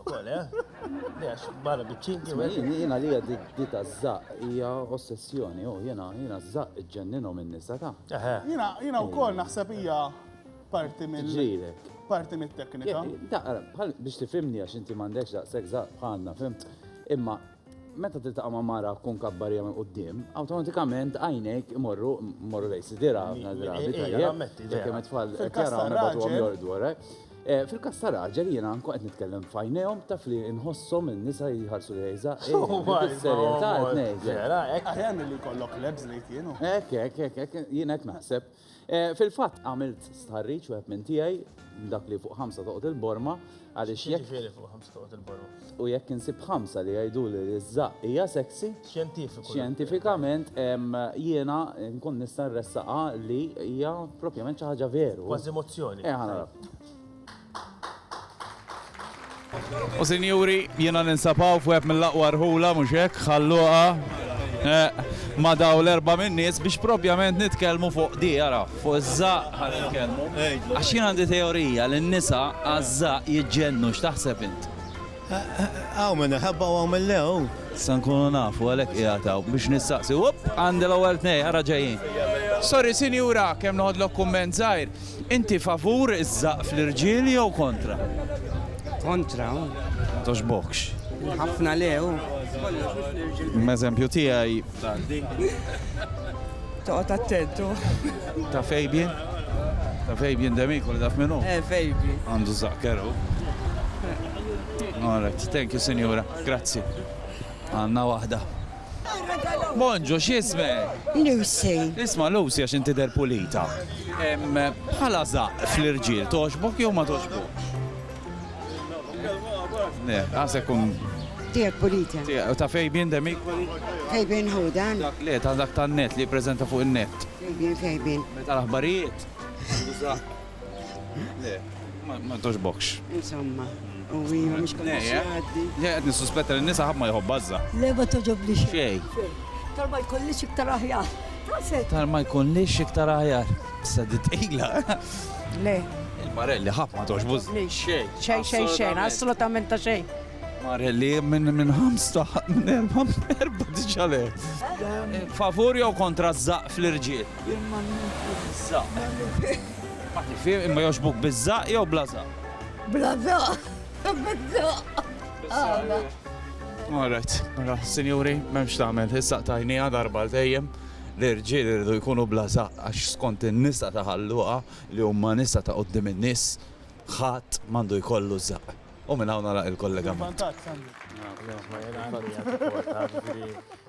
Ukoll, eh? Lex, barra biċċinki u għedin. Jena li għeddi dita zzaq, hija ossessjoni, u jena, jena zzaq ġenninu minn nisa ta. Jena, jena u koll naħseb hija parti minn. Ġirek. Parti mit teknika. Daqra, biex tifimni għax inti mandekx daqsek zzaq bħalna, fim. Imma Meta tiltaqa' ma' mara tkun kabbarija minn quddiem, awtomatikament għajnejk imorru morru lejn sidira ħafna drabi tajjeb. Jekk hemm it-tfal qed jaraw nibgħatuhom jorqdu warajk. Eh, Fil-każ ta' raġel jiena nkun qed nitkellem f'għajnejhom taf li nħosshom in-nisa jħarsu li jgħiża. Is-serjetà qed ngħidlek. Aħjar milli jkollok lebs ngħid jien. Hekk, hekk, hekk, hekk, jien hekk naħseb. Eh, fil-fatt għamilt stħarriċ u minn tiegħi dak li fuq ħamsa toqgħod il-borma għaliex jekk. Ġifieri fuq ħamsa toqgħod il-borma. U jekk insib ħamsa li jgħidu li ż-żaq hija sexy. Xjentifiku. Xjentifikament jiena nkun nista' nressaqa li hija propjament xi ħaġa veru. Kważi mozzjoni. Eh, U sinjuri, jiena ninsab hawn f'wieħed mill-aqwa rħula mhux hekk, ħalluqa eh, ma' daw l-erba' min-nies biex propjament nitkellmu fuq di ara, fuq iż-żaq ħa nitkellmu. Għax jien għandi teorija li n-nisa għaż-żaq jiġġennu x'taħseb int? Hawn minn iħabba u hawn minn le hu. Se nkunu nafu għalhekk qiegħed hawn biex nistaqsi. Upp! Għandi l-ewwel tnej, ara ġejjin. Sorry sinjura, kemm noħodlok kumment żgħir. Inti favur iż-żaqq fl-irġiel jew kontra? Kontra hu. Ma togħġbokx? Ħafna le hu. Kollox mhux fl-irġiel. M'eżempju tiegħi. Tgħaddi. Toqgħod attentu. Ta' Fabian? Ta' Fabian Demiku li daf minnu? Eh, Fabian. Għandu zaqkeru. All right, thank you, Sinjura. Grazzi. Għanna waħda. Monġo, xisme? Lucy. Isma Lucy għax inti der pulita. Bħala zaq fl-irġiel, toġbok jew ma toġbok? Ne, għasek kun. Tijak pulita. U ta' fejbin demi? Fejbin hu dan. Dak le, ta' dak ta' net li prezenta fuq il-net. Fejbin, fejbin. Meta l-aħbarijiet. Le, ma toġbokx. Insomma. U hija mhux kommissjoni. Le, qed nissuspetta li nisa ħadd ma jħobb bażża. Le ma toġobli xejn. Tal-ma jkollix iktar aħjar. Tal-ma jkollix iktar aħjar. Sadi tqila. Le. Il-marelli ħab ma tox buż. Xejn. Xejn xejn xejn, assolutament ta' xejn. Marelli minn minn ħamsta minn erba' erba' diġà le. Favur jew kontra żaq fl-irġiel? Żaq. Ma tifhem imma joxbuk biż-żaq jew bla żaq? Bla żaq. All right, mela, sinjuri, m'hemmx tagħmel, issa tajnija darba l-dejjem. l-irġiel iridu jkunu bla żaqq għax skont in-nisa ta' Ħal Luqa li huma nisa ta' quddiem in-nies, ħadd m'għandu jkollu żaqq. U minn hawn nagħlaq il-kollegament.